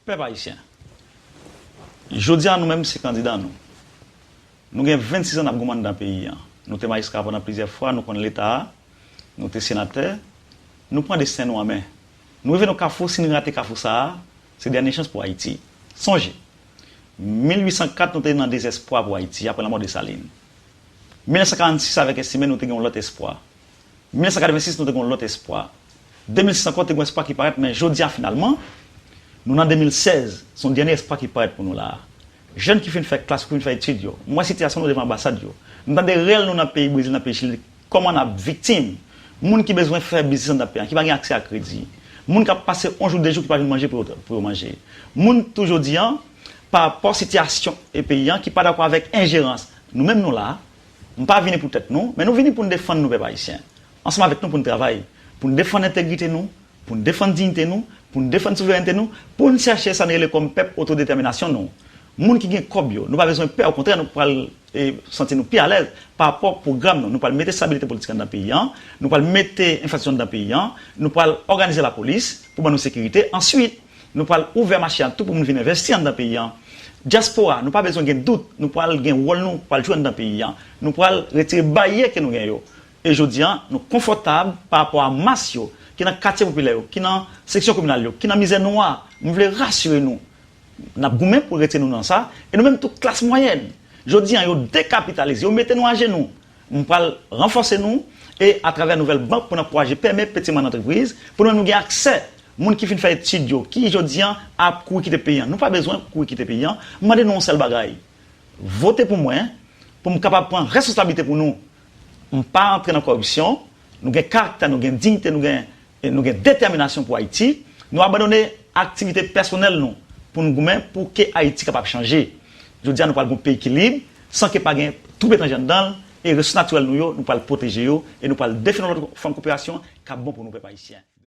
Pèp Ayisyen, jodi a nou menm se kandida nou. Nou gen 26 an n ap goumen anndan peyi an. Nou te majistra pandan plizyè fwa, nou konn Leta a, nou te senatè. Nou pran desten nou an men. Nou rive nan kafou, si n rate kafou sa a, se dènye chans pou Ayiti. Sonje, 1804 nou te nan dezèspwa pou Ayiti apre lanmò Desalin. 1946 avèk Estimé nou te gen yon lòt espwa. 1986 nou te gen yon lòt espwa, 2006 ankò te gen yon espwa ki parèt men jodi a finalman nou nan 2016 se yon dènye espwa ki parèt pou nou la a. Jèn ki fin fè klas yo, ki fin fè etid yo, m wè sitiyasyon nou devan anbasad yo, m tande rèl nou nan peyi Brezil, nan peyi Chili, kòman n ap viktim, moun ki bezwen fè biznis anndan peyi an, ki pa gen aksè a kredi, moun k ap pase yon jou de jou ki pa jwenn manje pou yo manje, moun tou jodi a parapò sitiyasyon peyi an ki pa dakò avèk enjerans nou menm nou la a. Nou pa vini pou tèt nou, men nou vini pou n defann nou pèp ayisyen. Ansanm avèk nou pou n travay, pou n defann entegrite nou, pou n defann diyite nou, pou n defann souverènte nou, pou n chèche sa n rele kòm pèp otodetèminasyon nou. Moun ki gen kòb yo, nou pa bezwen pè okontrè nou pral santi nou pi alèz pa rapò pwogram nou. Nou pral mete stabilite politik anndan peyi an, nou pral mete enfrastrikti anndan peyi an, nou pral òganize lapolis pou ban nou sekirite. Answit. Nou pral ouvè mache an tou pou moun vin envèsti anndan peyi an. Dyaspora, nou pa bezwen gen dout, nou pral gen wòl nou pral jwe anndan peyi an. Nou pral retire baryè ke nou gen yo. E jodi an, nou konfòtab pa rapò a mas yo, ki nan katye popilè yo, ki nan seksyon kominal yo, ki nan mizè nwa. M vle rasire nou, n ap goumen pou retire nou nan sa, e nou menm tou klas mwayèn. Jodi an, yo dekapitalize, yo mete nou ajenou. M pral ranfòse nou e atravè nouvèl bank pou n ankouraje pème peti mwa nan antrepriz pou nou menm nou gen aksè moun ki fin fè etid yo ki jodi an ap kouri kite peyi an nou pa bezwen kouri kite peyi an m mande nou yon sèl bagay vote pou mwen pou m kapab pran responsablite pou nou m pa antre nan kòripsyon nou gen karaktè nou gen dignite nou gen Nou gen detèminasyon pou Ayiti. Nou abandone aktivite pèsonèl nou pou nou goumen pou ke Ayiti kapab chanje. Jodi a nou pral gen yon peyi ki lib, san ke pa gen twoup etranje anndan l, e resous natirèl nou yo, nou pral pwoteje yo, e nou pral defini yon lòt fòm koperasyon k ap bon pou nou pèp ayisyen.